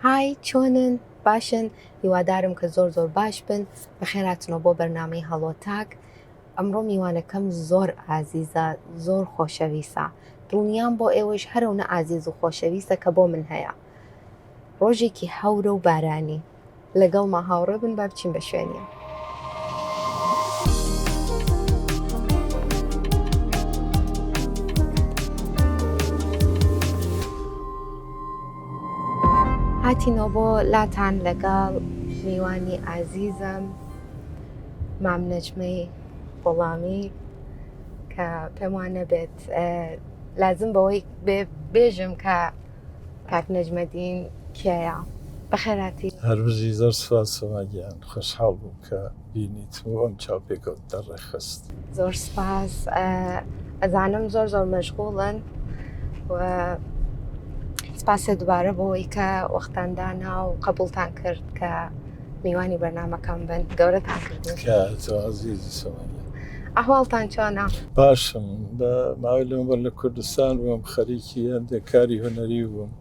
های چۆنن باشن هیوادارم کە زۆر زۆر باش بن بەخێراتنەوە بۆ بەرنامەی هەڵۆ تاک ئەمڕۆ میوانەکەم زۆر ئازیزە زۆر خۆشەویسە دڵنیام بۆ ئێوەش هەرەونە ئازیز و خۆشەویسە کە بۆ من هەیە ڕۆژێکی هەورە و بارانی لەگەڵما هاوڕێ بن با بچین بە شوێنیان هاتینەوە بۆ لاتان لەگەڵ میوانی ئازیزم مام نەجمەی غوڵامی کە پێم وا نەبێت اه، لازم بەوەی بێ- بێژم کە کاک نەجمەدین کێیە بەخێراتی هەربژی زۆر سوپاس سۆما گیان خۆشحاڵ بووم کە بینیت و ئەم چاوپێکەوت دەڕێخست. زۆر سپاس ئەزانم زۆر زۆر مەشغوڵن و سپاسە دوبارە بۆەوەی کە وەختان دانا و قبولتان کرد کە میوانی بەرنمەکەم بن گەورەتان کرد ئەهواڵتان چۆنا باشم بە ماوەی لەمەبەر لە کوردستان بووم خەریکی هەندێک کاری هەنەری بووم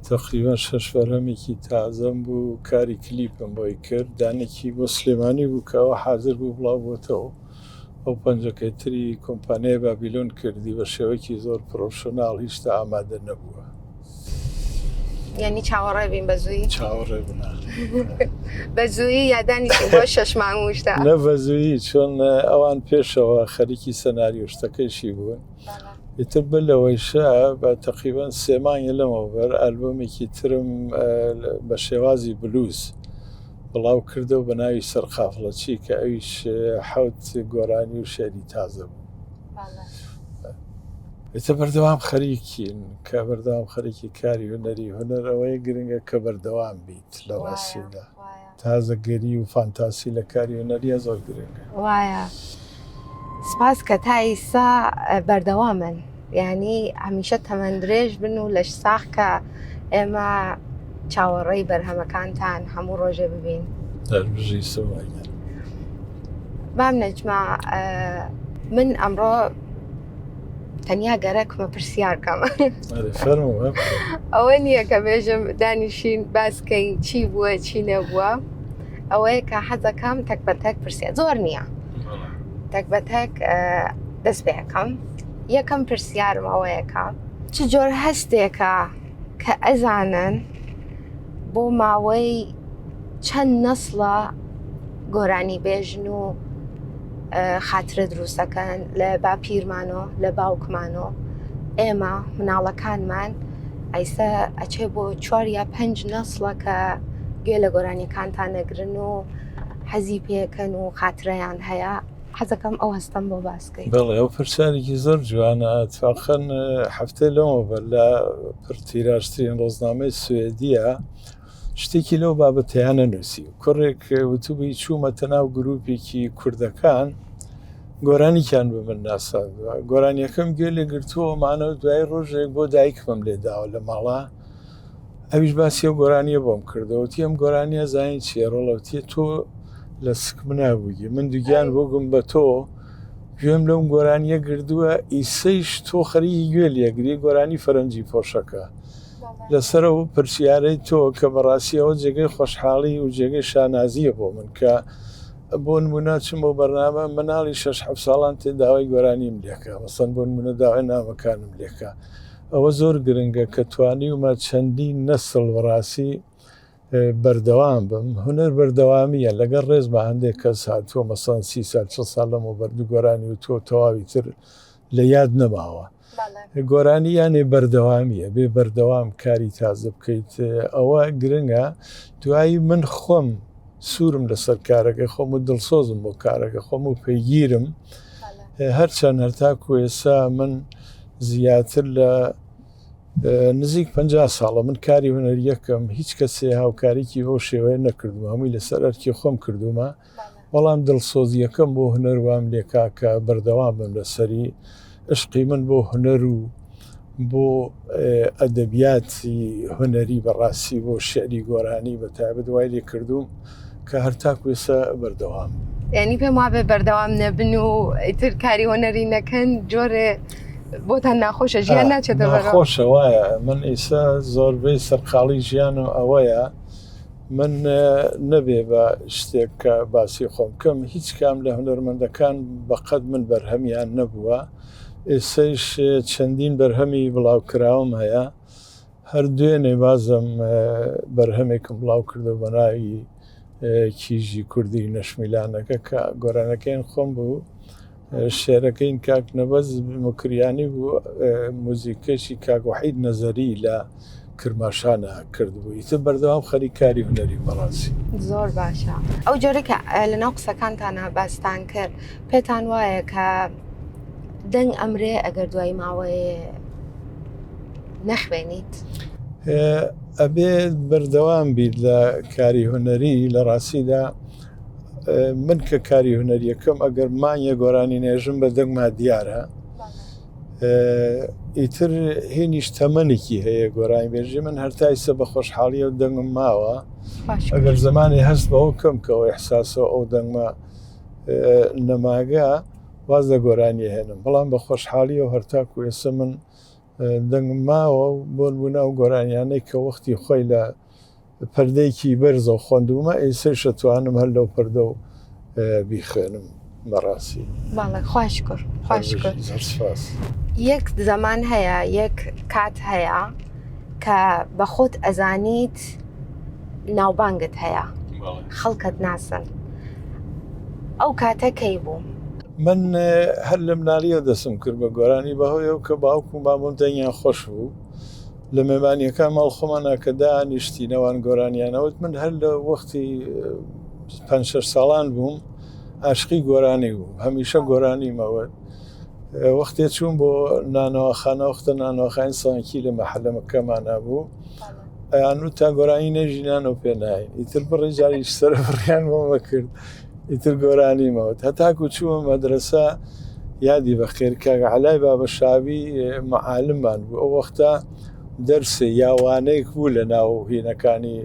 تەقریبەن شەش بەرهەمێکی تازەم بوو کاری کلیپم بۆی کرد دانێکی بۆ سلێمانی بوو کە ئەوە حازر بوو بڵاو بۆتەوە ئەو پەنجەکەی تری کۆمپانیای بابیلۆن کردی بە شێوەیەکی زۆر پرۆفشناڵ هیشتا ئامادە نەبووە یعنی چاوەڕێ بین بە زووی چاوەڕێ بنا بە زووی یادانی بۆ شەش مانگوشتا نە بە زووی چۆن ئەوان پێشەوە خەریکی سەناریۆشتەکەیشی بوون ئیتر بەر لەوەیشە بە تەقریبەن سێ مانگی لەمەوبەر ئەلبومێکی ترم بە شێوازی بلوز بڵاو کردەوە بە ناوی سەرقافڵەچی کە ئەویش حەوت گۆرانی و شعری تازە بوو ئێتە بەردەوام خەریکین کە بەردەوام خەرێکی کاری هوەری هوەر ئەوەیە گرنگە کە بەردەوام بیت لە ڕاستیدا. تازەگەری و فانتاسی لە کاری هونەریە زۆر گرنگە. وایە سپاس کە تا ئیسا بەردەوامن یعنی هەمیشە تەمەن درێژ بن و لەش ساخ کە ئێمە چاوەڕێی بەرهەمەکانتان هەموو ڕۆژێ ببین دەربژی سومایە. مام نەجما من ئەمڕۆ تەنیا گەرەک بە پرسیار کەم ئەوە نییە کە بێژم دانیشین باسکەین چی بووە چی نەبووە ئەوەیە کە حەزەکەم تەک بە تەک پرسیار زۆر نییە تەک بە تەک دەست پێەکەم یەکەم پرسیارم ئەوەیەکە چ جۆر هەستێکە کە ئەزانن بۆ ماوەی چەند نەسڵە گۆرانی بێژن و خاترە دروستەکەن لە باپیرمانۆ لە باوکمانۆ ئێمە مناڵەکانمان ئەیستا ئەچێ بۆ چوار یا پێنج نەسڵە کە گوێ لە گۆرانیەکانتان نەگرن و حەزی پێکەن و خاتریان هەیە حەزەکەم ئەو هەستەم بۆ باس بکەیت بەڵێ ئەو پرسیارێکی زۆر جوانە ئەتفاقەن هەفتەی لەمەوە بەر لە پرتیراژترین ڕۆژنامەی سوێدیە شتێکی لەو بابەتیانە نووسی کوڕێک وتوبی چوومەتە ناو گروپێکی کوردەکان گۆرانیان بە من ناساندوە گۆرانیەکەم گوێ لێ گرتووە مانەوە دوای ڕۆژێک بۆ دایکمم لێداوە لە ماڵە ئەویش باسی ئەو گۆرانیە بۆم کردەوەتی ئەم گۆرانیە زانین چیە ڕۆڵەوتیە تۆ لە سکم نابووی من دوگیان بۆگم بە تۆ گوێم لەم گۆرانیە گردووە ئیسەیش تۆ خەریی گوێ لەگری گۆرانی فەرەنجی پۆشەکە لەسرە و پرسیارەی تۆ کە بەڕاستیەوە جێگەی خۆشحاڵی و جێگەی شانازیە بۆ من کە بۆ نمونە چم بۆ بەرنامە مناڵی شش ساڵان تێ داوای گۆرانیم لەکە مەسەن بۆ نمونە داوای نامەکانم لەکە ئەوە زۆر گرنگە کە توانیومە چەندین نەسڵ وەڕاسی بەردەوام بم. هونەر بەردەوامییە. لەگەڵ ڕێزما هەندێک کەس هاتووە مەسەڵەن سی سال چڵ ساڵ لەمەوبەر دوو گۆرانی وتووە و تەواوی تر لە یاد نەماوە. گۆرانی یانێ بەردەوامییە، بێ بەردەوام کاری تازە بکەیت ئەوە گرنگە. دوایی من خۆم سوورم لەسەر کارەکەی خۆم و دڵسۆزم بۆ کارەکە خۆم و پێگیرم هەرچەند هەرتا کوێسا من زیاتر لە نزیک پ ساڵە من کاری هوەریەکەم هیچ کەسێ هاوکاریکی بۆ شێوەیە نەکردو هەمووی لەسەر ئەرکی خۆم کردومە بەڵام دڵسۆزیەکەم بۆ هوەروام لێکاکە بەردەوام بم لەسەری ئەشقی من بۆ هونەر و بۆ ئەدەبیاتی هونەری بەڕاستی بۆ شعری گۆرانی بە تایبەت وای لێ کردووم کە هەر تاکو ئێستا بەردەوام یعنی پێم وابێ بەردەوام نەبن و ئیتر کاری هۆنەری نەکەن جۆرێ بۆتان ناخۆشە ژیان ناچێتە خۆشە وایە من ئیسا زۆربەی سەرقاڵی ژیان و ئەوەیە من نەبێ بە شتێک کە باسی خۆم بکەم هیچ کام لە هونەرمەندەکان بەقەد من بەرهەمیان نەبووە ئێسەیش چەندین بەرهەمی بڵاوکراوم هەیە هەر دوێنێ بازم بەرهەمێکم بڵاو کردو بە ناوی کیژی کوردی نەشمیلانەکە کە گۆرانەکەیان خۆم بوو شعرەکەی کاک نەبەز موکریانی بوو موزیکەشی کاک وحید نەزەری لە کرماشانە کردبوو ئیتر بەردەوام خەری کاری هونەری بەڕاستی زۆر باشە ئەو جۆرە کە لەناو قسەکانتانە باستان کرد پێتان وایە کە دەنگ ئەمرێ ئەگەر دوای ماوەیە نەخوێنیت ئەبێ بەردەوام بیت لە کاری هونەری لە ڕاستیدا من کە کاری هوەریەکەم ئەگەر مانیە گۆرانی نێژم بە دەنگما دیارە ئیتر هینیش تەمەنێکی هەیە گۆرانی بێژی من هەرتایسە بە خۆشحاڵیە و دەنگم ماوە ئەگەر زمانی هەست بەەوە کەم کەەوە احساسەوە ئەو دەنگما نەماگە واز لە گۆرانی هێنم بەڵام بە خۆشحاڵی و هەرتاکو ئێسە من دەنگم ماوە و بۆن بوونا و گۆرانیانەی کە وەختی خۆی لە پردێکی بەرزەو خوەندومە ئیسەیش ئەتوانم هەر لەو پردەو بیخوێنم بەڕاسی بەڵێ خوا شکر خوا شکر زۆر سپاس یەک زەمان هەیە یەک کات هەیە کە بە خۆت ئەزانیت ناوبانگت هەیە بەڵێ خەڵکت ناسن ئەو کاتە کەی بوو من هەر لە منالیەوە دەسم کرد بە گۆرانی بەهۆیەوە کە باوکم و بابم دەنگیان خۆش بوو لە مێمانیەکان ماڵ خۆمانا کە دانیشتی نەوان گۆرانیانەوت من هەر لە وەختی پ ساڵان بووم ئاشقی گۆرانی بووم هەمیشە گۆرانی مەوە وەختێ چوون بۆ نانەوەخانە وەختە نانەوەخانی سانکی لە مەحلەمەکەمانە بوو ئەیان و تا گۆرانی نەژینان و پێنای ئیتر بڕی جاریش سەر بڕیان بۆمە کرد ئیتر گۆرانی مەوت هەتاکو چووە مەدرسە یادی بەخێر کاک عەلای بابە شاوی معالممان بوو ئەو وەختە دەرسێ یاوانەیەک بوو لە ناو هینەکانی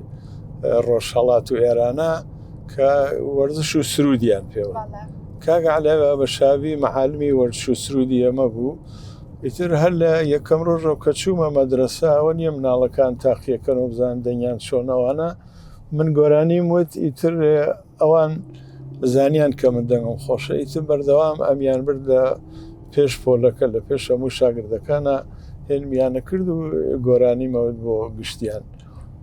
ڕۆژهڵات و ئێرانە کە وەرزش و سرودیان پێوە کاک عەلای بابە شاوی معالمی وەرش و سرودی ئەمە بوو ئیتر هەر لە یەکەم ڕۆژەوە کە چوومە مەدرسە ئەوە نیە مناڵەکان تاقیەکەن و بزان دەنگیان چۆنەوانە من گۆرانیم وت ئیتر ئەوان زانیان کە من دەنگم خۆشە ئیتر بەردەوام ئەمیان برد لە پێش پۆلەکە لە پێش هەموو شاگردەکانە هێنمیانە کرد و گۆرانی مەوت بۆ گشتیان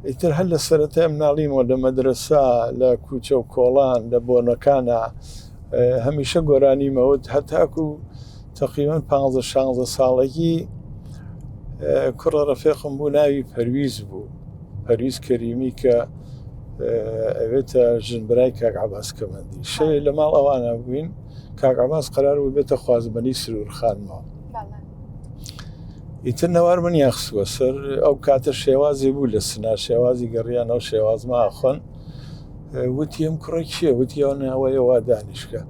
ئیتر هەر لە سەرەتای مناڵیمەوە لە مەدرسا لە کوچە و کۆڵان لە بۆنەکانە هەمیشە گۆرانی مەوت هەتاکو تەقریبەن پانزە شانزە ساڵەکی کوڕە ڕەفێقم بوو ناوی پەرویز بوو پەرویز کەریمی کە ئەوێتە ژنبرای کاک عباس کەمەندی شەێ لە ماڵ ئەوانە بووین کاک عباس قرار بوو بێتە خوازبنی سرورخانمەوە ئیتر نەوار من یاخسووە سەر ئەو کاتە شێوازی بوو لە سنا شێوازی گەڕیانەوە شێوازماخۆن وتی ئەم کوڕە کێ وتی ئەو ناوەیە وا دانیشکە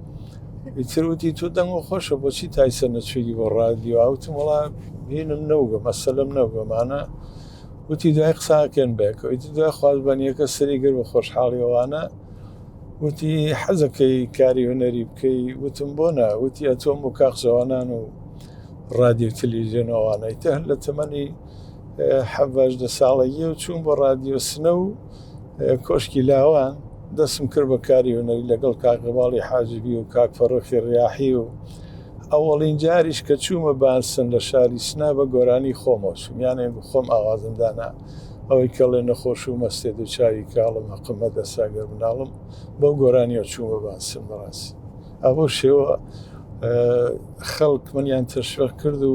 ئیتر وتی تۆ دەنگ و خۆشە بۆچی تایسە نەچووی بۆ ڕادیو ئاوتم وڵا بینم نەوگە مەسەلم نەوگەمانە وتی دوای قساکەن بێکە ئیتر دوای خواز بەنیەکە سەری گر بە خۆشحاڵیەوانە وتی حەزەکەی کاری هوەری بکەی وتم بۆ نە وتی ئەتۆم بۆ کاقزەوانان و ڕادیو تەلیژێنەوانەی تە لە تەمەنی حەڤژدە ساڵەیە و چوون بۆ ڕادیۆسنە و کۆشکی لاوان دەسم کرد بە کاری هونەری لەگەڵ کاکەباڵی حاجبی و کاک فەڕۆخی ڕیاحی و ئەوەڵین جاریش کە چوومە بانسن لە شاری سنا بە گۆرانی خۆمەوە چوم یانێ خۆم ئاوازم دانا ئەوەی کەڵێ نەخۆش و مەستێ دوو چاوی کاڵم هەقمە دەساگەر مناڵم بەو گۆرانیەوە چوومە بانسن بەڕاستی ئەوە شێوە خەڵک منیان تەشوەق کرد و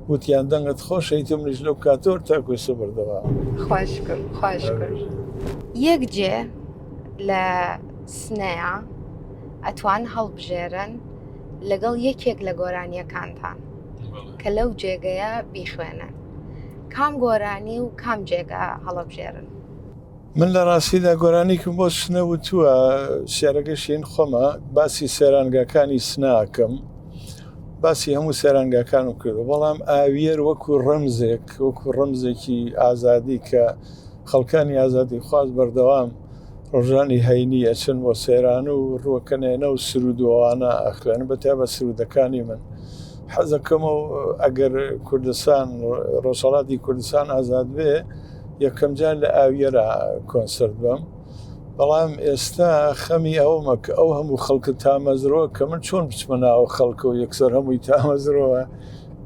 وتیان دەنگت خۆشەیت منیش لەو کاتۆر تاکوێسە بردەوە خواش کرد خواش کرد یەک جێ لە سنەیە ئەتوان هەڵبژێرن لەگەڵ یەکێک لە گۆرانیەکانتان کە لەو جێگەیە بیخوێنن کام گۆرانی و کام جێگە هەڵەبژێرن من لە ڕاستیدا گۆرانیکم بۆ سنە وتووە شعرەکە شین خۆمە باسی سێرانگاکانی سناکەم باسی هەموو سێرانگاکان و کردو بەڵام ئاویەر وەکو ڕەمزێک وەکو ڕەمزێکی ئازادی کە خەڵکانی ئازادی خواز بەردەوام ڕۆژانی هەینی ئەچن بۆ سێران و ڕوەکەنێنە و سرودوانە ئەخوێن بەتیا بە سرودەکانی من حەزەکەم و ئەگەر کوردستان ڕۆژهڵاتی کوردستان ئازاد بێ یەکەمجار لە ئاویەرا کۆنسرت بم بەڵام ئێستا خەمی ئەومە کە ئەو هەموو خەڵکە تامەزرەوە کە من چۆن بچمە ناوە خەڵکە و یەکسەر هەمووی تامەزرەوە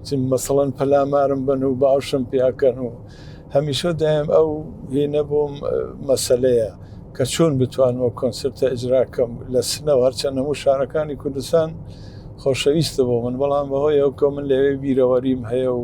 چم مەسەڵەن پەلامارم بن و باشم پیاکەن و هەمیشە دایم ئەو هینە بۆم مەسلەیە کە چۆن بتوانەوە کۆنسرتە ئجراکەم لە سنەوە هەرچەند هەموو شارەکانی کوردستان خۆشەویستە بۆ من بەڵام بەهۆی ئەو کە من لەوێ بیرەوەریم هەیە و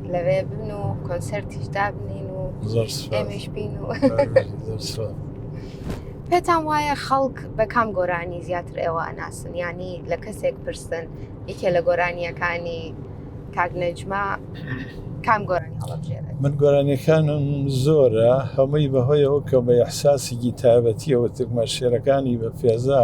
لەوێ بن و کۆنسەرتیش دابنین و زۆر سوپاس. ئێمەش بین و زۆر سوپاس. پێتان وایە خەڵک بە کام گۆرانی زیاتر ئێوە ئەناسن ینی لە کەسێک پرسن یەکێ لە گۆرانیەکانی کاک نەجمە کام گۆرانی هەڵەبژێرێت من گۆرانیەکانم زۆرە هەمووی بەهۆی ئەو کە بە ئەحساسێکی تایبەتیەوە تکمە شێرەکانی بە پێزا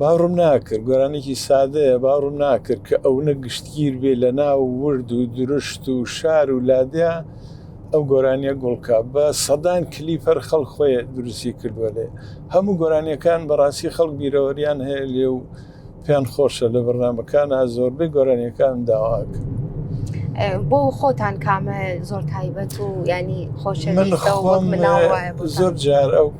باوڕم ناکرد گۆرانێکی سادەیە باوڕم ناکرد کە ئەونە گشتگیر بێ لە ناو ورد و درشت و شار و لادێ ئەو گۆرانیە گوڵکە بە سەدان کلیپ هەر خەڵ خۆی دروستی کردووە لێ هەموو گۆرانیەکان بەڕاستی خەڵک بیرەوەریان هەیە لێ و پێیان خۆشە لە بەرنمەکان زۆربەی گۆرانیەکان داواک بۆ خۆتان کامە زۆر تایبەت و ینی خۆش زۆر جار ئەو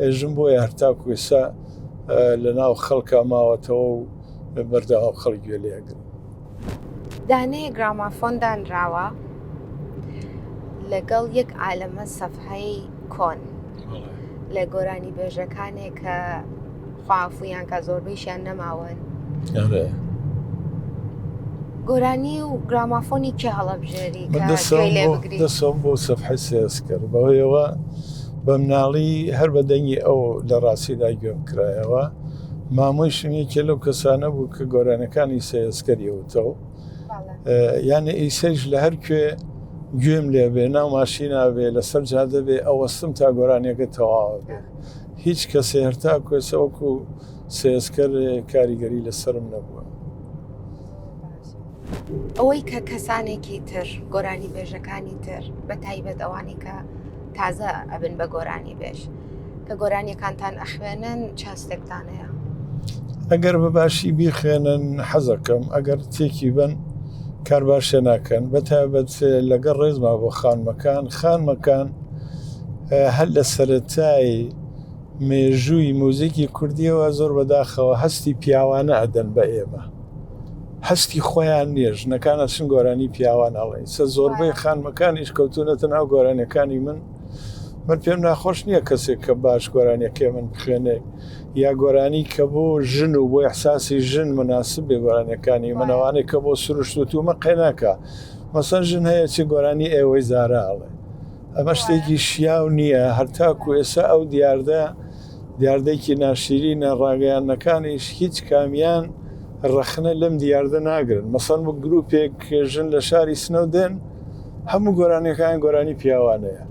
ئێژم بۆیە هەرتاکو ئێسا لە ناو خەڵکە ماوەتەوە و بەردەوام خەڵک گوێ لێگرن دانەیە گرامافۆن دانراوە لەگەڵ یەک عالەمە سەفحەی کۆن لە گۆرانی بێژەکانێک کە خواعفویان کا زۆربەیشیان نەماون ئەرێ گۆرانی و گرامافۆنی کێ هەڵەبژێری من کە گوێی دەسەوم لێ بۆ بگری دەسەوم بۆ سەفحە سێز کرد بەوەیەوە بە مناڵی هەر بە دەنگی ئەو لە ڕاستیدا گوێم کرایەوە مامۆی شمێکێ لەو کەسانە بوو کە گۆرانەکانی سێزکەری وتەوە بەڵێ. یانە ئیسەیش لە هەر کوێ گوێم لێبێ ناو ماشیناوێ لەسەر جادەبێ ئەوەستم تا گۆرانیەکە تەواوە بێ هیچ کەسێ هەرتاکو ئێستا وەکو سێسکەر کاریگەری لەسەرم نەبووە. ئەوەی کە کەسانێکی تر گۆرانی بێژەکانی تر بە تایبەت ئەوانی کە تازە ئەبن بە گۆرانی بێژ کە گۆرانیەکانتان ئەخوێنن چاستێکتان هەیە ئەگەر بە باشی بیخوێنن حەزەکەم ئەگەر تێکی بن کار باشێ ناکەن بە تایبەت لەگەڵ ڕێزما بۆ خانمەکان خانمەکان هەر لە سەرەتای مێژووی موزیکی کوردیەوە زۆر بەداخەوە هەستی پیاوانە ئەدەن بە ئێمە هەستی خۆیان نییە ژنەکان ئەچن گۆرانی پیاوان ئەڵێن سە زۆربەی خانمەکانیش کەوتونەتە ناو گۆرانەکانی من من پێم ناخۆش نییە کەسێک کە باش گۆرانەکەی من بخوێنێ یا گۆرانی کە بۆ ژن و بۆ احساسی ژن مناسب بێ گۆرانەکانی منەوانێک کە بۆ سروشت و تومە قەیناکە مەسەن ژن هەیە چ گۆرانی ئێوەی زارا ئەڵێ ئەمە شتێکی شیاو نییە هەرتاکو ئێسا ئەو دیاردە دیاردەیەکی ناشیرینە ڕاگەیانەکانیش هیچ کامیان ڕەخنە لەم دیاردە ناگرن مەسەن بە گرروپێک ژن لە شاری سنەودێن هەموو گۆرانیەکان گۆرانی پیاوانەیە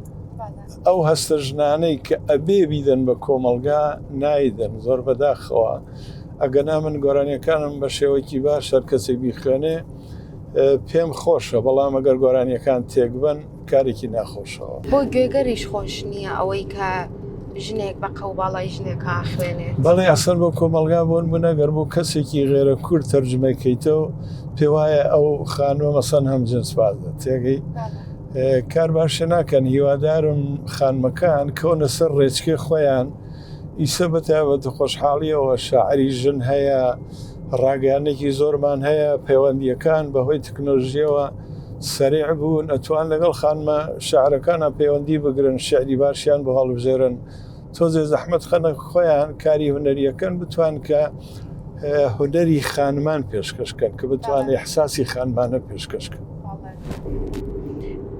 ئەو هەستە ژنانەی کە ئەبێ بیدەن بە کۆمەلگا نایدەن زۆر بەداخەوە ئەگەنا من گۆرانیەکانم بە شێوەکی باش هەر کەسێک بیخوێنێ پێم خۆشە بەڵام ئەگەر گۆرانیەکان تێکبن کارێکی ناخۆشەوە بۆ گوێگەریش خۆش نییە ئەوەی کە ژنێک بە قەو باڵای ژنێکە خوێنێ بەڵێ ئەسەر بۆ کۆمەلگا بۆن بنەگەر بۆ کەسێکی غێرە کورد تەرجمەکەیتەوە پێ وایە ئەو خانوە مەسەن هەم جنس بازە تێگەی کار باشە ناکەن هیوادارم خانمەکان کەونە سەر ڕێچکێ خۆیان ئیسە بە تایبەت خۆشحاڵیەوە شاعری ژن هەیە ڕاگەانێکی زۆرمان هەیە پەیوەندیەکان بەهۆی تکنۆلژیەوە سەرێع بوون ئەتوان لەگەڵ خانمە شعرەکانە پەیوەندی بگرن شعری باشیان بۆ هەڵبژێرن تۆزێ زەحمت خەنە خۆیان کاری هونەریەکەن بتوان کە هونەری خانمان پێشکەش کەن کە بتوانێت احساسی خانمانە پێشکەش کەن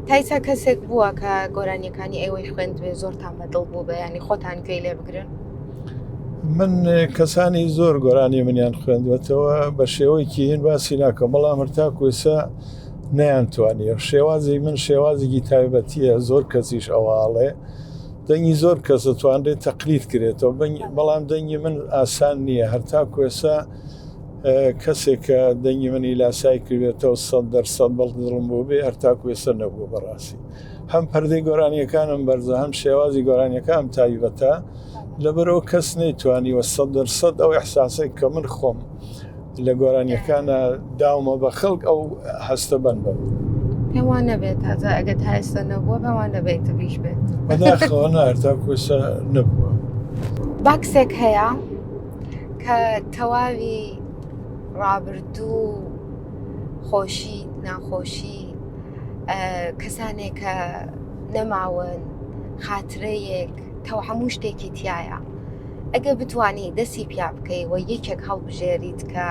تایسا کەسێک بووە کە گۆرانیەکانی ئێوەی خوێندوێ زۆر تام بەدڵ بوو بە ینی خۆتان گوێ لێ بگرن من کەسانی زۆر گۆرانی منیان خوێندوەتەوە بە شێوەیەکی هێن باسی ناکە بەڵام هەرتا کوێسە نەیان توانیە شێوازی من شێوازێکی تایبەتیە زۆر کەسیش ئەوواڵێ دەنگی زۆر کەس دەتوانرێت تەقلید کرێتەوە بەڵام دەنگی من ئاسان نییە هەرتا کوێسە کەسێک کە دەنگی منی لاسای کردێتەوە سە دەرسەد بەڵ دڵم بۆ بێ هەرتا کوێسە نەبوو بەڕاستی هەم پەردەی گۆرانیەکانم بەرزە هەم شێوازی گۆرانیەکان تایبەتە لەبەرەوە کەس نەیتوانی وە سە دەرسەد ئەو احساسێک کە من خۆم لە گۆرانیەکانە داومە بە خەڵک ئەو هەستە بن بە پێوان نەبێت تازە ئەگەر هایستە نەبووە پێوان نەبێت تبیش بێت بەداخەوەنارتا کوسە نەبووە باکسێک هەیە کە تەواوی ڕابردوو خۆشی ناخۆشی کەسانێک کە نەماون خاترەیەک تەو هەموو شتێکی تایە ئەگەر بتوانی دەسی پیا بکەی و یەکێک هەڵبژێریت کە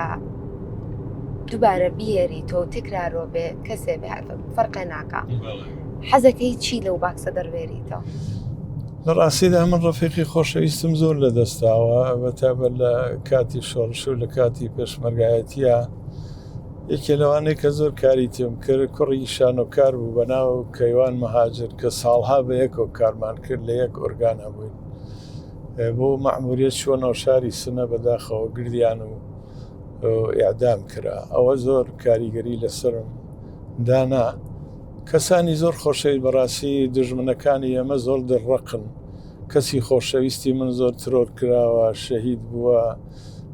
دووبارە بیێری تۆ تکرارۆ بێ کەسێ بێ فەرقێ ناکە حەزەکەی چی لەو باکسە دەروێریتەوە لە ڕاستیدا من ڕفیقی خۆشەویستم زۆر لە دەستاوە بەتابە لە کاتی شۆڕش و لە کاتی پێشمەرگایەتە یەکێ لەوانەیە کە زۆر کاری تێم کرد کوڕی شانۆکار بوو بەناو کەیوان مەهاجر کە ساڵها بە یەکۆک کارمان کرد لە یەک ئۆرگانە بووین بۆ مەعموریت چۆنەوە شاری سنە بەداخەوە گردیان و ئەعدام کرا ئەوە زۆر کاریگەری لەسرم دانا کەسانی زۆر خۆشەوی بەڕاستی دژمنەکانی ئێمە زۆر دڕەقن کەسی خۆشەویستی من زۆر ترۆر کراوە شەهید بووە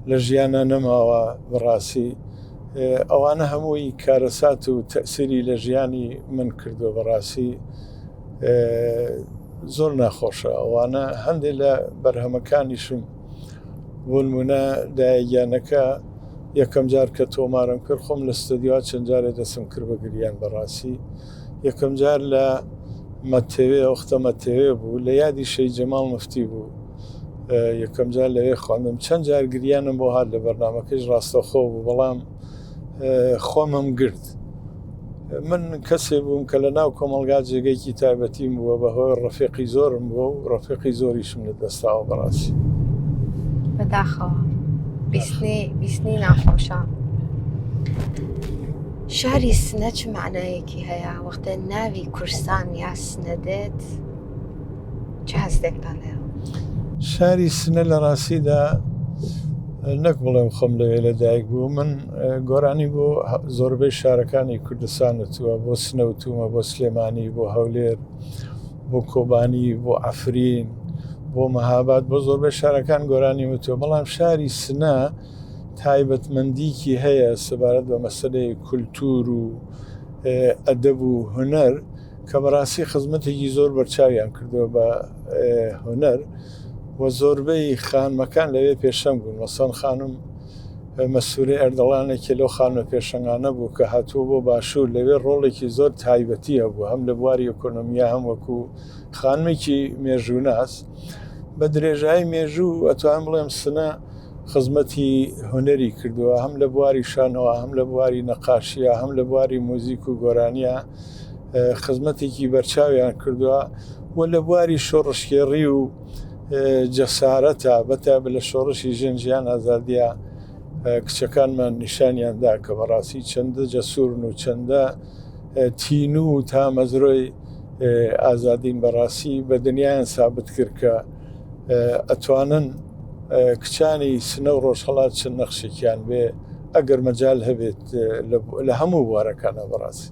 لە ژیانە نەماوە بەڕاستی ئەوانە هەمووی کارەسات و تەسیری لە ژیانی من کردو بەڕاستی زۆر ناخۆشە ئەوانە هەندێک لە بەرهەمەکانیشم بۆنمونە دایگیانەکە یەکەم جار کە تۆمارم کرد خۆم لە ستدیوا چەند جارێ دەسم کرد بە گریان بەڕاستی یەکەم جار لە مەتەوێ ئەوختە مەتەوێ بوو لە یادی شەی جەماڵ مفتی بوو یەکەم جار لەوێ خواندم چەند جار گریانم بۆ هاات لە بەرنمەکەش ڕاستەخۆ بوو بەڵام خۆمم گرت من کەسێ بووم کە لە ناو کۆمەلگا جێگەیکی تایبەتیم بووە بە هۆی ڕفێقی زۆرم بووە و ڕفێقی زۆریشم لە دەستاوە بەڕاستی بەداخەوە بیستنی ناخۆشە شاری سنە چ معناەکی هەیە وەختە ناوی کورسان یا سنە دێت چ هەستێکتان هەیە شاری سنە لە ڕاستیدا نەک بڵێم خۆم لەوێ لە دایک بوو من گۆرانی بۆ زۆربەی شارەکانی کوردستان وتووە بۆ سنەوتومە بۆ سلێمانی بۆ هەولێر بۆ کۆبانی بۆ ئەفرین بۆ مەهاباد بۆ زۆربەی شارەکان گۆرانی وتوە بەڵام شاری سنە تایبەتمەندیکی هەیە سەبارەت بە مەسلەی کولتور و ئەدەب و هوەر کە بەڕاستی خزمەتێکی زۆر بەرچاویان کردووە بە هۆنەر و زۆربەی خانمەکان لەوێ پێشەنگ بوون مەسەن خانم مەسووری ئەردەڵانێکی لەو خانمە پێشنگانە بوو کە هاتووە بۆ باشوور لەوێ ڕۆڵێکی زۆر تایبەتی هەبوو هەم لە بواری ئۆکۆنۆمیا هەم وەکو خانمێکی مێژووناس بە درێژایی مێژوو ئەتوان بڵێم سنە خزمەتی هوەری کردووە هەم لە بواری شانەوە هەم لە بواری نەقاشیە هەم لە بواری موزیک و گۆرانیە خزمەتێکی بەرچاویان کردووە و لە بواری شۆڕشکێڕی و جەسارەتە بەتا لە شۆڕشی ژێن ژیان ئازادیا کچەکانمان نیشانیاندا کە بەڕاستی چەندە جەسوورن و چەندە تین و تا مەزرۆی ئازادین بەڕاستی بە دنیایان سابت کرد کە ئەتوانن کچانی سنە و ڕۆژهڵات چەند نەخشێکیان بێ ئەگەر مەجال هەبێت لە هەموو بوارەکانە بەڕاستی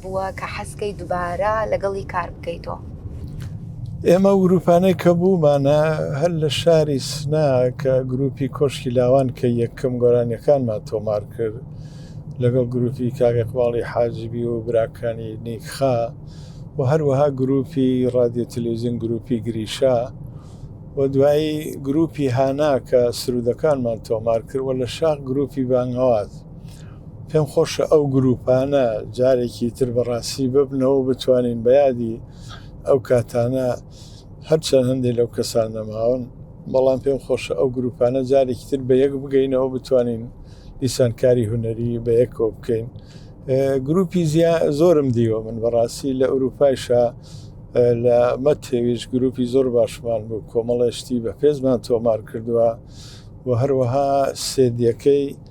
بووە کە حەزکەی دوبارە لەگەڵی کار بکەیتۆ. ئێمە وگروپانەی کە بوومانە هەر لە شاری سنا کە گروپی کۆشکی لاوان کە یەکەم گۆرانیەکانمان تۆمار کرد لەگەڵ گروپی کاگەقباڵی حاجبی و براکانی نیکخا و هەروەها گروپی ڕادیو تلویزیون گروپی گریشا و دوایی گروپی هانا کە سرودەکانمان تۆمار کرد و لە شاخ گروپی بانگەواز پێم خۆشە ئەو گروپانە جارێکی تر بەڕاستی ببنەوە بتوانین بە یادی ئەو کاتانە هەرچەند هەندێک لەو کەسان نەماون بەڵام پێم خۆشە ئەو گروپانە جارێکی تر بە یەک بگەینەوە بتوانین دیسان کاری هونەری بە یەکەوە بکەین گروپی زیا زۆرم دیوە من بەڕاستی لە ئەوروپایشە لە مەتێویش گروپی زۆر باشمان بوو کۆمەڵێشتی بە پێزمان تۆمار کردووە و هەروەها سێدیەکەی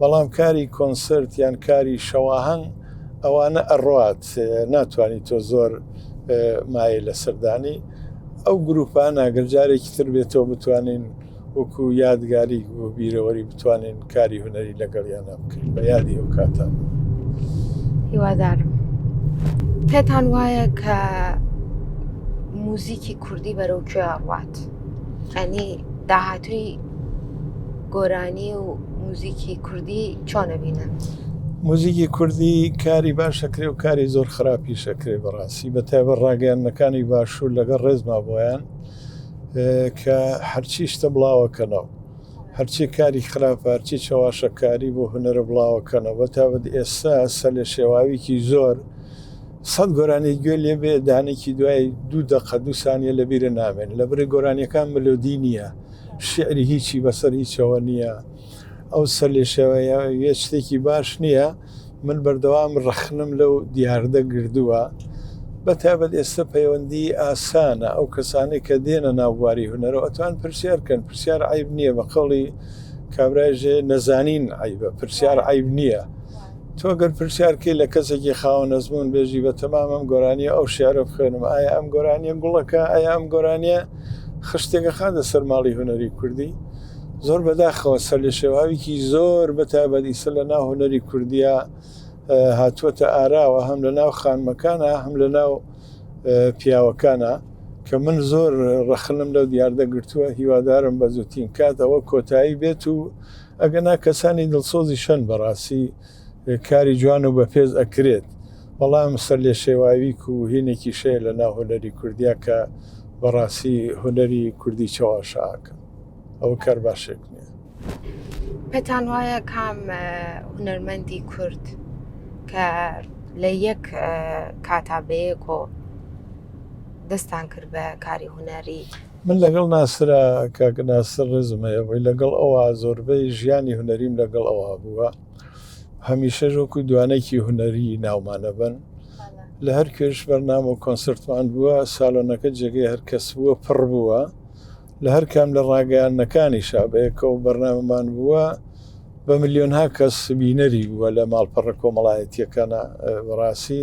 بەڵام کاری کۆنسرت یان کاری شەواهەنگ ئەوانە ئەڕات ناتوانانی تۆ زۆر مایە لە سەردانی ئەو گروپانە گەرجارێکی تر بێتەوە بتوانین وەکو یادگاری و بیرەوەری بتوانین کاری هوەری لەگەڵیانە بکرین بە یادی ئەو کاتە هیوادارم پێتان وایە کە موزیکی کوردی بەرەو کوێ ئەڕات ئەنی داهاتوی گۆرانی و موزیکی کوردی چۆنە بینن؟ موزیکی کوردی کاری باشەکرێ و کاری زۆر خراپی شەکرێ بەڕاستی بە تایبە ڕاگەیاندنەکانی باشوور لەگەڵ ڕێزما بۆیان کە هەرچی شتە بڵاوەکەنەوە هەرچی کاری خراپ هەرچی چەواشەکاری بۆ هوەرە بڵاوەکەنەوە بە تابەت ئێستا سە لە شێواویکی زۆر سەد گۆرانی گوێ لێ بێ دانێکی دوای دوو دەقە دوو سانیە لە بیرە نامێن لە بری گۆرانیەکان ملودی نییە شیعری هیچی بەسەر هیچەوە نییە. ئەو سەرلێشێوەیە وێ شتێکی باش نییە. من بەردەوام ڕەخنەم لەو دیاردە گردووە. بە تایبەت ئێستە پەیوەندیی ئاسانە. ئەو کەسانەی کە دێنە ناو بواری هونەرەوە ئەتوان پرسیار بکەن. پرسیار عەیب نییە. بە قەوڵی کابرای ژێ نەزانین عەیبە. پرسیار عەیب نییە. تۆ گەر پرسیار بکەی لە کەسێکی خاوەن ئەزموون بێژی بە تەمام ئەم گۆرانیە ئەو شعرە بخوێنم ئایا ئەم گۆرانیە گوڵەکە ئایا ئەم گۆرانیە خشتێکە خاتە سەر ماڵی هوەری کوردی زۆر بەداخەوە سەر لە شێواویکی زۆر بە تایبەت ئیسە لە ناو هوەری کوردیا هاتووەتە ئاراوە هەم لە ناو خانمەکانە هەم لە ناو پیاوەکانە کە من زۆر ڕەخنم لەو دیاردە گرتووە هیوادارم بە زووتین کات ئەوە کۆتایی بێت و ئەگەنا کەسانی دڵسۆزی شەن بەڕاسی کاری جوان و بەپێز ئەکرێت بەڵام سەرلێشێواویک و هینێکی شەیە لە ناو هونەری کوردیا کە بەڕاسی هونەری کوردی چەواشە ئاکەن ئەوە کار باشێک نیە. پێتان وایە کام هونەرمەندی کورد کە لە یەک کاتا بەیەکۆ دەستان کرد بە کاری هونەری؟ من لەگەڵ ناسرا کاک ناسر ڕێزم هەیە بۆی لەگەڵ ئەوا زۆربەی ژیانی هونەریم لەگەڵ ئەوا بووە هەمیشەش وەکو دوانەکی هونەری ناومانەبن لە هەر کوێش بەرنامە و کۆنسرتمان بووە سالۆنەکە جێگەی هەرکەس بووە پڕ بووە لە هەر کام لە ڕاگەیانەکانی شابەیەکە و بەرنامەمان بووە بە ملیۆنها کەس بینەری بووە لە ماڵپەڕە کۆمەڵایەتیەکانە بەڕاستی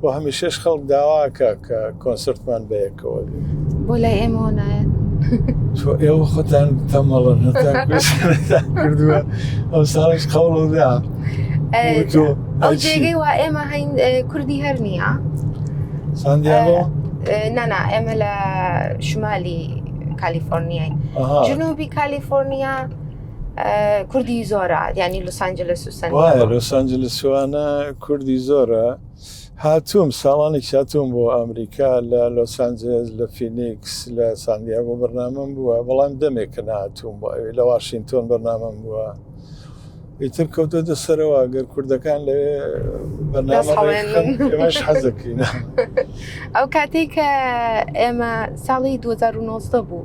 بۆ هەمیشەش خەڵک داواکە کە کۆنسرتمان بەیەکەوە بۆ لای ئێمەوە نایەن تۆ ئێوە خۆتان تەمەڵە کردووە ئەو ساڵش قەڵدا ئەو جێگەی وا ئێمە هەین کوردی هەر نییە ساندیاۆ نانا ئێمە لە شمالی کالیفۆرنیای جنوبی کالیفۆرنیا کوردی زۆرە ینی لوسانجلس لوسانجلسوانە کوردی زۆرە هاتووم ساڵانی چاتوم بۆ ئەمریکا لە لۆسانجلس لە فینیکس لە ساندیا بۆ بەرنامەم بووە بەڵام دەمێکە ناتوم بۆ ئەوێ لە واشنگتۆن بەرنامەم بووە ئیتر کەوتە دەسەرەوە گەر کوردەکان لە بەنامەش حەزەکەین ئەو کاتێک کە ئێمە ساڵی 2009 بوو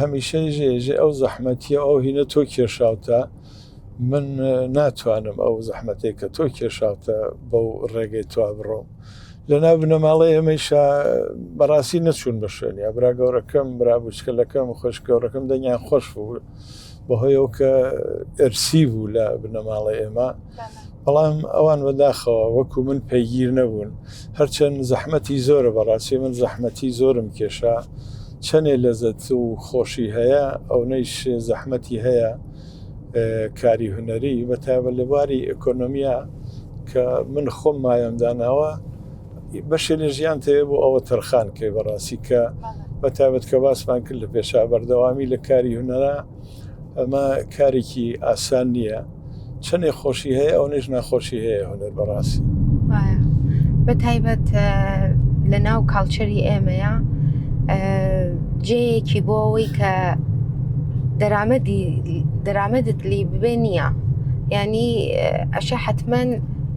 هەمیشە ژێ ژێ ئەو زەحمەتیە ئەو هینە تۆ کێشاوتە من ناتوانم ئەو زەحمەتێک کە تۆ کێشاوتە بەو ڕێگەی توا بڕۆم لەناو بنەماڵی ئێمەیشە بەڕاستی نەچوون بە شوێنیا برا گەورەکەم برا بچکەلەکەم خۆش گەورەکەم دەنگیان خۆش بوو بەهۆی ئەو کە ئەرسی بوو لە بنەماڵە ئێمە بەڵام ئەوان بەداخەوە وەکو من پەیگیر نەبوون هەرچەند زەحمەتی زۆرە بەڕاستی من زەحمەتی زۆرم کێشا چەنێ لەزەت و خۆشی هەیە ئەو نەیش زەحمەتی هەیە کاری هوەری بەتابە لە باری ئەکۆنۆمیا کە من خۆم مایەم داناوە بەشێ لە ژیان تەوێ بۆ ئەوە تەرخان کەی بەڕاستی کە بە تابەت کە باسمان کرد لە پێشا بەردەوامی لە کاری هوەرا ئەمە کارێکی ئاسان نییە چەندێ خۆشی هەیە ئەو نێژ ناخۆشی هەیە هوەر بەڕاستی بە تایبەت لە ناو کاڵچەری ئێمەیە جێیەکی بۆ ئەوەی کە دەرامەدی دەرامەدت لی ببێ نییە ینی ئەشە حتمما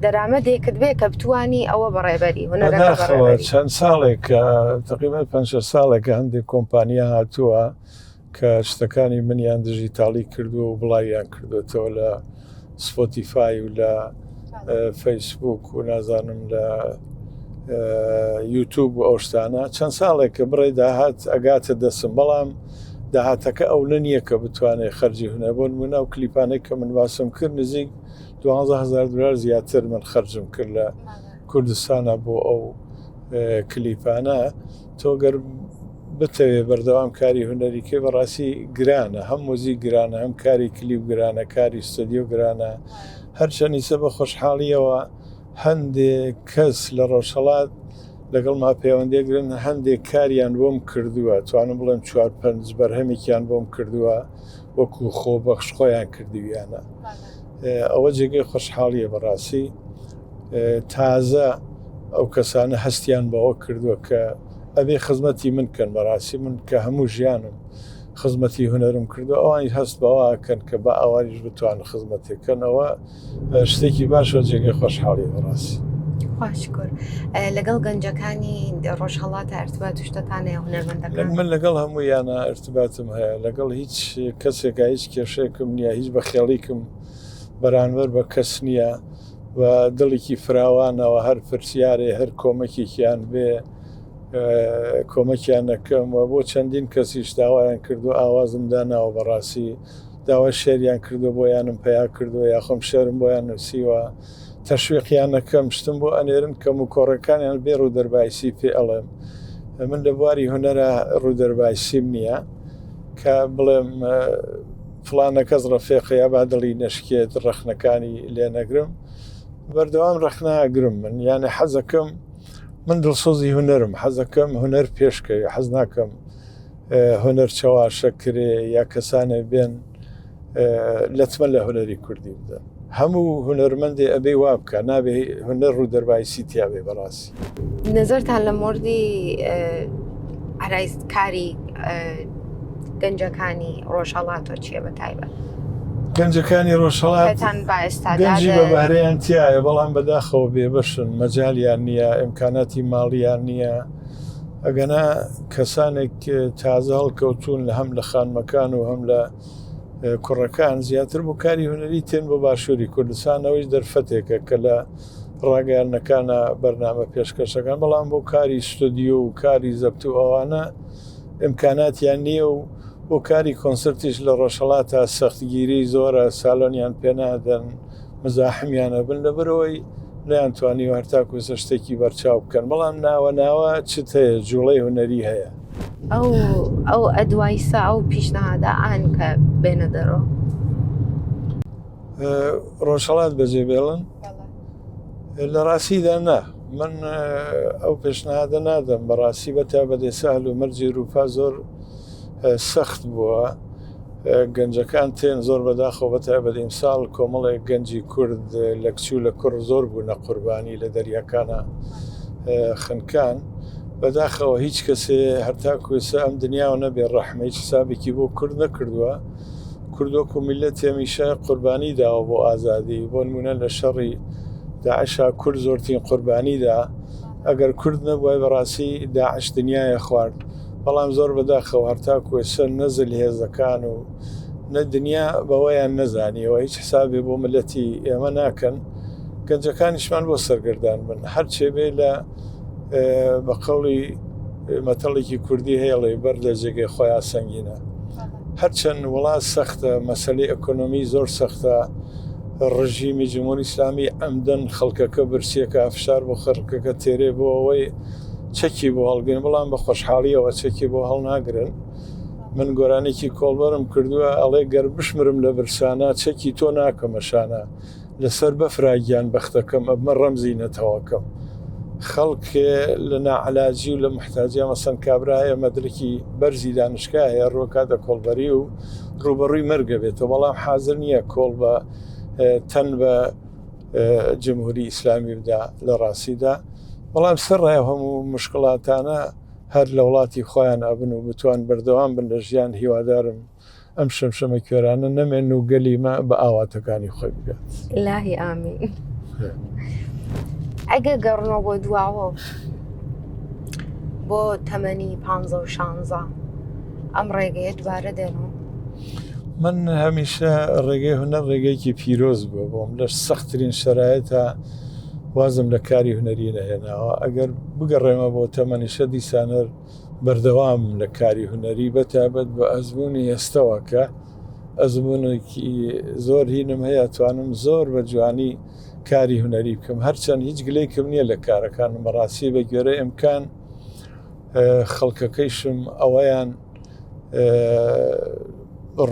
دەرامەدێکت بێ کە بتانی ئەوە بەڕێبەری هونەرەوە چەند ساڵێک کە تقریبا پ ساڵێکە هەندێک کۆمپانیا هاتووە کە شتەکانی منیان دژی تاڵی کردو و بڵاویان کردوێتەوە لە سپۆتیفای و لە فەیسبوک و نازانم لە یوتوب و ئەو شتانە چەند ساڵێک کە بڕێ داهات ئەگاتە دەسم بەڵام داهاتەکە ئەو نە نییە کە بتوانێت خەرجی هونە بۆن منە و کلیپانێک کە من باسم کرد نزیک دوانزە هەزار دلار زیاتر من خەرجم کرد لە کوردستانە بۆ ئەو کلیپانە تۆگەر بتەوێ بەردەوام کاری هونەریکەی بەڕاستی گرانە هەم موزی گرانە هەم کاری کلیپ گرانە کاری ستدیو گرانە هەرچەنیسە بە خۆشحاڵیەوە هەندێک کەس لە ڕۆژهڵات لەگەڵ ما پەیوەندێگرن هەندێک کاریان بۆم کردووە توانم بڵێم چوار پنج بەرهەمێکیان بۆم کردووە وەکو خۆ بەخش خۆیان کردویانە ئەوە جێگەی خۆشحاڵیە بەڕاستی تازە ئەو کەسانە هەستیان بەوە کردووە کە ئەبێ خزمەتی من کەن بەڕاستی من کە هەموو ژیانم خزمەتی هوەرم کردو ئەوانی هەست بەواکەن کە بە ئاوایش بتوان خزمەتێکەنەوە شتێکی باشە جێگەی خۆشحاڵی بەڕاستی خوشکر لەگەڵ گەنجەکانی ڕۆژهڵاتە ئەرتبا توشتتانە هونەرمەندەکان من لەگەڵ هەموو یانە ئەرتباتم هەیە لەگەڵ هیچ کەسێکە هیچ کێشێکم نییە هیچ بە خێڵیکم بەرانبەر بە کەس نییە و دڵێکی فراوانەوە هەر پرسیارێ هەر کۆمەکێکیان بێ کۆمەکیان نەکەم و بۆ چەندین کەسیش داوایان کردو ئاوازم داناوە بەڕاستی داوای شێریان کردووە بۆیانم پەیا کردووە یا خۆم شێرم بۆیان نووسیوە تەشویقیان نەکەم شتم بۆ ئەنێرن کەم و کۆڕەکانیان بێ ڕوودەربایسی پێ ئەڵێم من لە بواری هوەرە ڕوودەربایسیم نییە کە بڵێم فلانە کەس ڕەفێقەیە با دڵی نەشکێت ڕەخنەکانی لێ نەگرم بەردەوام ڕەخناگرم من یانە حەزەکەم من دڵسۆزی هوەرم حەزەکەم هوەر پێشکەوی حەز ناکەم هونەر چەواشە کرێ یا کەسانێ بێن لەتمە لە هونەری کوردی بدەن هەموو هونەرمەندێ ئەبێ وا بکە نابێ هونەر ڕوو دەربایسی تیاێ بەڕاستی نظرتان لە مردی ئارایستکاری گەنجەکانی ڕۆژهڵاتۆ چیە بە تایبەت گەنجەکانی ڕۆژهڵاتان بەێستاگەنجی بە بەهرەیان تایە بەڵام بەداخەوە بێبەشن مەجاالیان نییە ئەمکاناتی ماڵیان نییە ئەگەنا کەسانێک تازە هەڵکەوتون لە هەم لە خانمەکان و هەم لە کوڕەکان زیاتر بۆ کاری هونەری تێن بۆ باشووری کوردستانەوەی دەرفەتێکە کە لە ڕاگەیانەکانە بەرنامە پێشکەشەکان بەڵام بۆ کاری ستۆدیو و کاری زەبت و ئەوانە ئەمکاناتیان نییە و بۆ کاری کۆنسرتیش لە ڕۆژهڵاتا سەختگیری زۆرە سالۆنیان پێنادەن مزاحمیان ئەبن لەبەرەوەی نیان توانیوە هەرتاکو سە شتێکی بەرچاو بکەن بەڵام ناوە ناوە چت هەیە جوڵەی هوەری هەیە ئەو ئەو ئەدوایسا ئەو پیشنەهادا ئاهنکە بێنە دەرەوە ڕۆژهڵات بەجێ بێڵن لە ڕاستیدا نا من ئەو پێشنهادە نادەم بەڕاستی بە تا بەدەسە هەلو مەرجی روپا زۆر سەخت بووە گەنجەکان تێن زۆر بەداخەوە بەتایبەت ئیمساڵ کۆمەڵێک گەنجی کورد لە کچوو لە کوڕ زۆر بوو نە قوربانی لە دەریاکانە خنکان بەداخەوە هیچ کەسێ هەرتا کوێسە ئەم دنیاوە نەبێ ڕەحمە هیچ سابێکی بۆ کورد نەکردووە کوردۆک و میلە تێمیشە قوربانی داوە بۆ ئازادی بۆ نمونە لە شەڕی داعشا کورد زۆرترین قوربانیدا ئەگەر کورد نەبووای بەڕاستی داعش دنیاە خوارد بەڵام زۆر بەداخەوە هەرتاکو ئێستا نە زلهێزەکان و نە دنیا بەوەیان نەزانیەوە هیچ حسابێ بۆ ملەتی ئێمە ناکەن گەنجەکانیشمان بۆ سەرگردان بن هەرچێ بێ لە بە قەڵی مەتەڵێکی کوردی هێڵێ بەر لە جێگەی خۆیان سەنگینە هەرچەند وڵات سەختە مەسلی ئەکۆنۆمی زۆر سەختە ڕژیمی جمهوری ئسلامی ئەمدەن خەڵکەکە برسیەکە فشار بۆ خەرکەکە تێرێ بۆ ئەوەی چەکی بۆ هەڵگرن بەڵام بە خۆشحاڵیەوە چەکی بۆ هەڵناگرن من گۆرانێکی کۆڵبەرم کردووە ئەڵێ گەر بشمرم لە برسانە چەکی تۆ ناکەمە شانە لەسەر بەفراگیان بەختەکەم ئەمە ڕەمزی نەتەوەکەم خەڵک لە ناعلاجی و لە محتاجە مەسەن کابرا هەیە مەدرکی بەرزی دانشکە هەیە ڕۆکات دە کۆڵبەری و ڕوبەڕووی مەرگە بێتەوە بەڵام حاضر نییە کۆڵ بە تەن بە جمهوری ئیسلامی بدا لە ڕاستیدا بەڵام سڕای هەموو مشکلاتانە هەر لە وڵاتی خۆیان ئەبن و بتوان بەردەوام بن لە ژیان هیوادارم ئەم شەمشەمە کوێرانە نەمێن و گەلیمە بە ئاواتەکانی خۆی بگات لاهی ئامی ئەگە گەڕنەوە بۆ دواوە بۆ تەمەنی پ شانزە ئەم ڕێگەیە دوبارە دێنەوە من هەمیشە ڕێگەی هونەر ڕێگەیەکی پیرۆز بووە بۆم لە سەختترین شەرایەتە وازم لە کاری هونەری نەهێناوە ئەگەر بگەڕێمە بۆ تەمەنیشە دیسانەر بەردەوام لە کاری هونەری بەتابەت بە ئەزمموی ئێستەوە کە ئەزمونێکی زۆر هینم هەیە توانم زۆر بە جوانی کاری هونەری بکەم هەرچەند هیچ گلێکم نییە لە کارەکان بەڕاستی بە گوێرە ئەمکان خەڵکەکەیشم ئەوەیان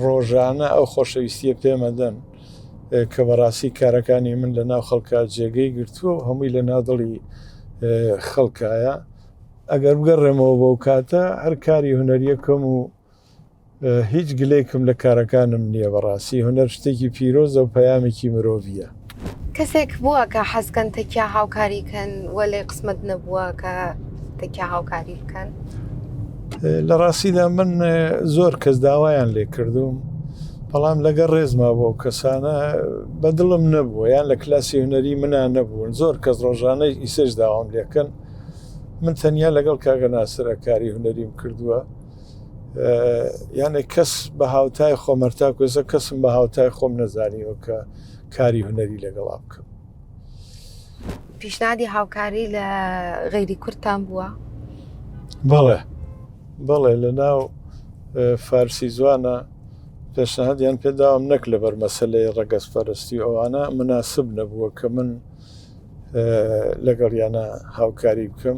ڕۆژانە ئەو خۆشەویستیە پێمەدەن کە بەڕاستی کارەکانی من لە ناو خەڵکە جێگەی گرتووە و هەمووی لە نادڵی خەڵکایە ئەگەر بگەڕێمەوە بەو کاتە هەر کاری هوەریەکەم و هیچ گلێکم لە کارەکانم نییە بەڕاستی هوەر شتێکی پیرۆزە و پەیامێکی مرۆڤە کەسێک بووە کە حەزکەن تەکیا هاوکاری کەن و لێ قسمەت نەبووە کە تەکیا هاوکاری بکەن لە ڕاستیدا من زۆر کەس داوایان لێ کردوم بەڵام لەگەر ڕێزما بۆ کەسانە بەدڵم نەبووە یان لە کلاسی هوەری منا نەبوون زۆر کەس ڕۆژانەی ئیسش داوام لەکەن من تەنیا لەگەڵ کاگە ناسرە کاری هوەریم کردووە یانە کەس بە هاوتای خۆمەرتا کوێزە کەسم بە هاوتای خۆم نەزانیەوە کە کاری هوەری لەگەڵا بکەم پیشنادی هاوکاری لە غەیری کورتان بووە بەڵێ بەڵێ لە ناو فارسی زوانە پێشنهادیان پێداوام نەک لە بەرمەسلەی ڕەگەز پەرستی ئەوانە مناسب نەبووە کە من لەگەڵیانە هاوکاری بکەم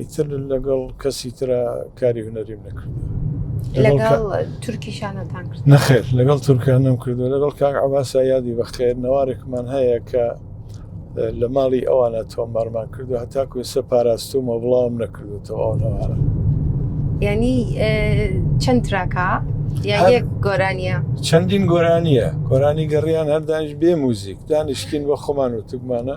ئیتر لەگەڵ کەسی ترا کاری هوەریم نەکردوە لەگەڵ تورکیشانەتان کرد نەخێر لەگەڵ تورکان نم کردو لەگەڵ کاک عباسا یادی بەخێر نەوارێکمان هەیە کە لە ماڵی ئەوانە تۆمارمان کردو هەتاکو ئێستا پاراستومە بڵاوم نەکردوتەوە ئەو نەوارە ینی چەند تراکە یەک گۆرانیە چەندین گۆرانیە گۆرانی گەڕیان هەردانش بێ موزیک دانیشتین بە خۆمان و تگمانە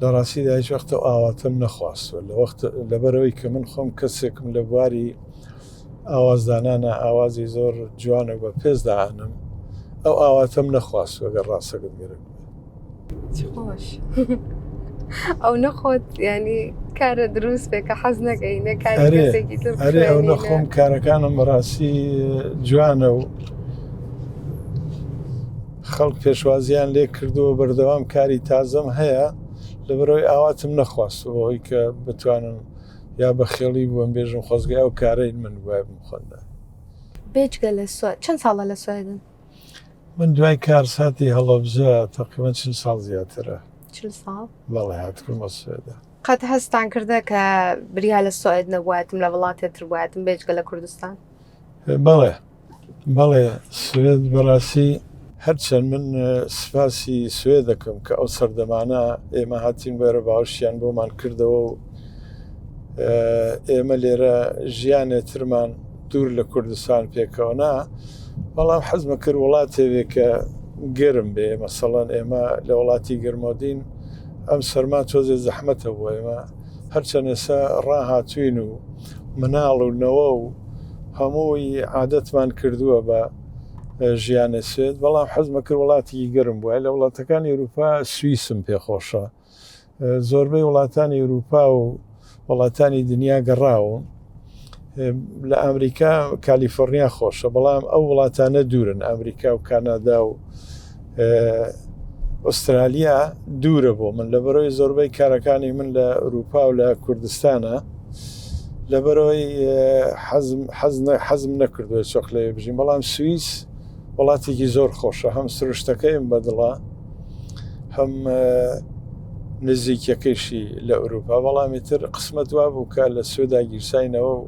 دەکات. لە ڕاستیدا هیچ وەخت ئەو ئاواتەم نەخواستووە، لەبەرئەوەی کە من خۆم کەسێکم لە بواری ئاوازدانانا ئاوازی زۆر جوان و بە پێز دائەنم، ئەو ئاواتەم نەخواستووە گەر ڕاستەکەت گرت بێت. چ خۆش ئەو نەخۆت یانی کارە دروست بێ کە حەز نەکەی نە کاری ئەرێ، کەسێکی تر ئەرێ ئەو بخوێنی، نە- نەخۆم کارەکانم بەڕاستی جوانە و خەڵک پێشوازیان لێ کردووە بەردەوام کاری تازەم هەیە لەبەرەوەی ئاواتم نەخواستو بەهۆی کە بتوانم یا بە خێڵی بووم بێژم خۆزگە ئەو کارەی من وای بم خۆندا. بێجگە لە سوە چەند ساڵە لە سوەیدن؟ من دوای کارساتی هەڵەبجە تەقریبەن چل ساڵ زیاترە. چل ساڵ؟ بەڵێ هاتبوومە سوێدا. قەت هەستان کردە کە بریا لە سوئد نەبوایتم لە وڵاتێتر بوایتم بێجگە لە کوردستان؟ بەڵێ بەڵێ سوێد بەڕاستی هەرچەند من سپاسی سوێ دەکەم کە ئەو سەردەمانە ئێمە هاتین بەرە باوشیان بۆمان کردەوە و ئێمە لێرە ژیانێ ترمان دوور لە کوردستان پێکەوەنا بەڵام حەزمە کرد وڵاتێوێ کە گەرم بێ مەسەڵەن ئێمە لە وڵاتی گەرمۆدین ئەم سەرما تۆزێ زەحمەتە بۆ ئێمە هەرچەند ئێسا ڕاهاتوین و مناڵ و نەوە و هەمووی عادەتمان کردووە بە ژیانە سوێد بەڵام حەزمە کرد وڵاتی گەرم بووە لە وڵاتەکانی ئەوروپا سوئیسم پێخۆشە زۆربەی وڵاتانی ئەوروپا و وڵاتانی دنیا گەڕاوم لە ئەمریکا کالیفۆرنیا خۆشە بەڵام ئەو وڵاتانە دوورن ئەمریکا و کانادا و ئوسترالیا دوورە بۆ من لەبەرەوەی زۆربەی کارەکانی من لە ئەوروپا و لە کوردستانە لەبەرەوەی حەزم نەکردوە چۆخ لێ بژین بەڵام سوئیس وڵاتێکی زۆر خۆشە هەم سروشتەکەیم بەدڵە هەم نزیکەکەیشی لە ئەوروپا بەڵامی تر قسمەت وا بوو کە لە سوێدا گیرساینەوە و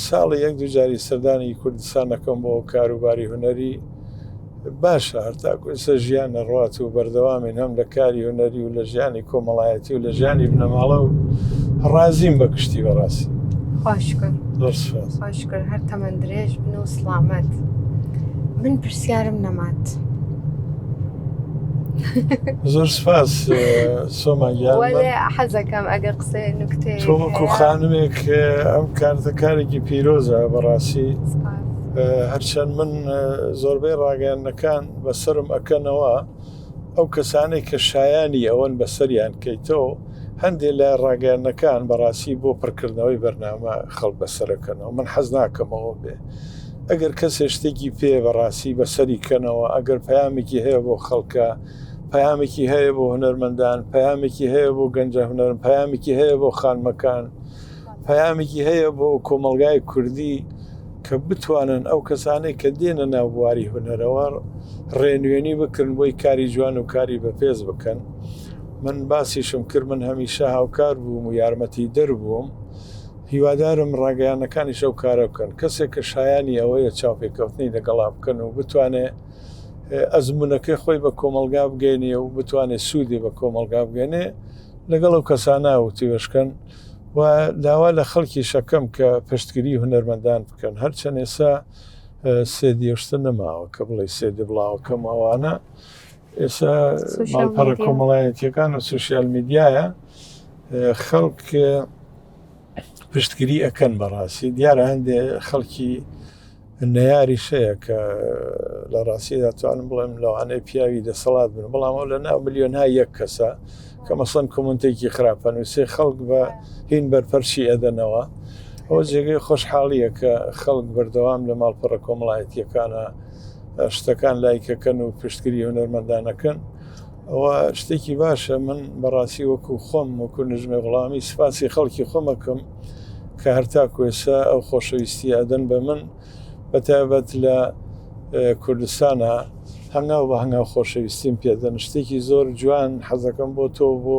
ساڵی یەک دوجاری سەردانی کوردستان نەکەم بۆ کاروباری هوەری باشە هەرتاکو ئێستا ژیان نەڕات و بەردەوامین هەم لە کاری هوەری و لە ژیانی کۆمەڵایەتی و لە ژیانی بنەماڵە و ڕازیم بە کشتی بەڕاستی خۆشکر هەر تەمەندرێژ بن و سلامەت من پرسیارم نەمات. زۆر سپاس سۆما گیان وەلێ من حەزەکەم ئەگەر قسە نکتێ تۆ وەکو خانمێک ئەم کارتە کارێکی پیرۆزە بەڕاستی هەرچەند من زۆربەی ڕاگەیاندنەکان بەسرم ئەکەنەوە ئەو کەسانێک کە شایانی ئەوەن بەسەریان کەیتەوە هەندێک لە ڕاگەیاندنەکان بەڕاستی بۆ پڕکردنەوەی بەرنامە خەڵ بەسەرەکەنەوە من حەز ناکەمەوە بێ ئەگەر کەسێ شتێکی پێیە بە ڕاستی بە سەری کەنەوە ئەگەر پەیامێکی هەیە بۆ خەڵکە پەیامێکی هەیە بۆ هونەرمەندان پەیامێکی هەیە بۆ گەنجە هونەرم پەیامێکی هەیە بۆ خانمەکان پەیامێکی هەیە بۆ کۆمەلگای کوردی کە بتوانن ئەو کەسانەی کە دێنە ناو بواری هونەرەوە ڕێنوێنی بکرن بۆی کاری جوان و کاری بەپێز بکەن من باسیشم کرد من هەمیشە هاوکار بووم و یارمەتی دەربووم هیوادارم ڕاگەیاندنەکانیش ئەو کارە بکەن. کەسێک کە شایانی ئەوەیە چاوپێکەوتنی لەگەڵا بکەن و بتوانێ ئەزموونەکەی خۆی بە کۆمەڵگا بگەینێ و بتوانێ سوودی بە کۆمەڵگا بگەنێ، لەگەڵ ئەو کەسانە وتووێژ کەن و داوا لە خەڵکیش ئەکەم کە پشتگریی هونەرمەندان بکەن. هەرچەند ئێستا سێ دی شتە نەماوە کە بڵێی سێ دی بڵاوە کەم و ئەوانە، ئێستا ماڵپەڕە کۆمەڵایەتییەکان و سۆشیال میدیایە، خەڵک. پشتگری ئەکەن بەڕاستی دیارە هەندێ خەڵکی نەیاری شەیە کە لە ڕاستیدا توانم بڵێم لەوانەیە پیاوی دەسەڵات بن بەڵام ئەو لە ناو ملیۆن ها یەک کەسە کە مەسەن کۆمنتێکی خراپەن و سێ خەڵک بە هین بەرپەرچی ئەدەنەوە ئەو جێگەی خۆشحاڵیە کە خەڵک بەردەوام لە ماڵپەڕە کۆمەڵایەتیەکانە شتەکان لایکەکەن و پشتگیری هونەرمەندانەکەن ئەوە شتێکی باشە من بەڕاستی وەکو خۆم وەکو نژمێ غڵامی سپاسی خەڵکی خۆمەکەم کە هەرتا کوێسە ئەو خۆشەویستی ئەدەن بە من بە تایبەت لە کوردستانە هەنگاو بە هەنگاو خۆشەویستیم پێدەن شتێکی زۆر جوان حەزەکەم بۆ تۆ بۆ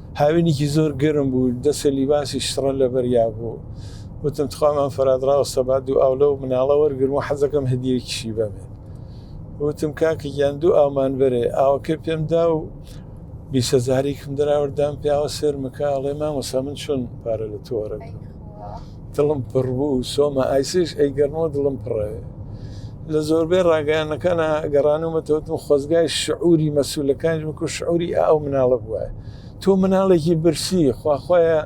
هاوینیکی زۆر گەرم بوو، دەسێ لیباسی شڕە لەبەریا بوو. وتم تخوا مام فەراد ڕاوەستە با دوو ئاو لەو مناڵە وەرگرم و حەزەکەم هەدیەیەکیشی بەمێ. وتم کاکە گیان دوو ئاومان بەرێ. ئاوەکەی پێم دا و بیست هەزاریکم دەراورد دام پیاوە سێرمەکە ئەڵێ مامۆسا من چۆن پارە لە تۆ وەرەگرم؟ دڵم پڕ بوو سۆما ئایسش ئەی گەرمۆ دڵم پڕێ لە زۆربەی ڕاگەیانەکانە گەڕانومەتەوتم خۆزگای شعوری مەسوولەکانش وەکو شعوری ئەو مناڵە بووە تۆ مناڵێکی برسی خواخوایە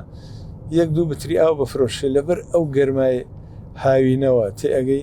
یەک دوو بتری ئاو بفرۆشێ لەبەر ئەو گەرمای هاوینەوە تێ ئەگەی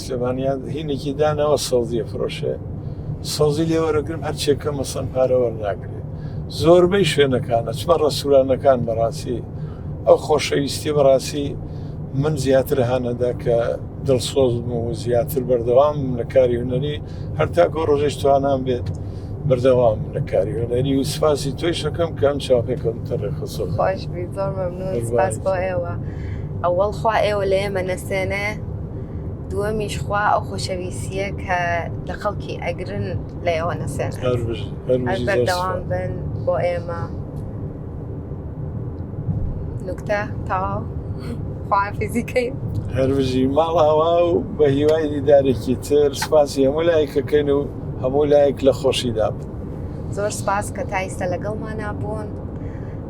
سلێمانیان هینێکی داناوە سەوزیە فرۆشێ سەوزی لێ وەرەگرم هەرچێ کە مەسەن پارە وەرناگرێ زۆربەی شوێنەکانە چمە ڕسوورانەکان بەڕاستی ئەو خۆشەویستی بەڕاستی من زیاتر هانەدا کە دڵسۆز بوو و زیاتر بەردەوام لە کاری هوەری هەرتا گۆ ڕۆژێش توانان بێت بەردەوام لە کاری هوەری و سپاسی توی شەکەم کە ئەم چاپێکم تەڕێخسۆ خۆش بی زۆر مەمنون سپاس بۆ ئێوە ئەوەڵ خوا ئێوە لە ئێمە نەسێنێ دووەمیش خوا ئەو خۆشەویستیە کە لە خەڵکی ئەگرن لە ئێوە نەسێن بەردەوام بن بۆ ئێمە نوکتە تاو خوافیزیکەی هەربژی ماڵاوا و بە هیوای دیدارێکی تر سپاسی هەموو لایەکەکەن و هەموو لایەک لە خۆشیدا بن زۆر سپاس کە تا ئیستا لەگەڵمانە بوون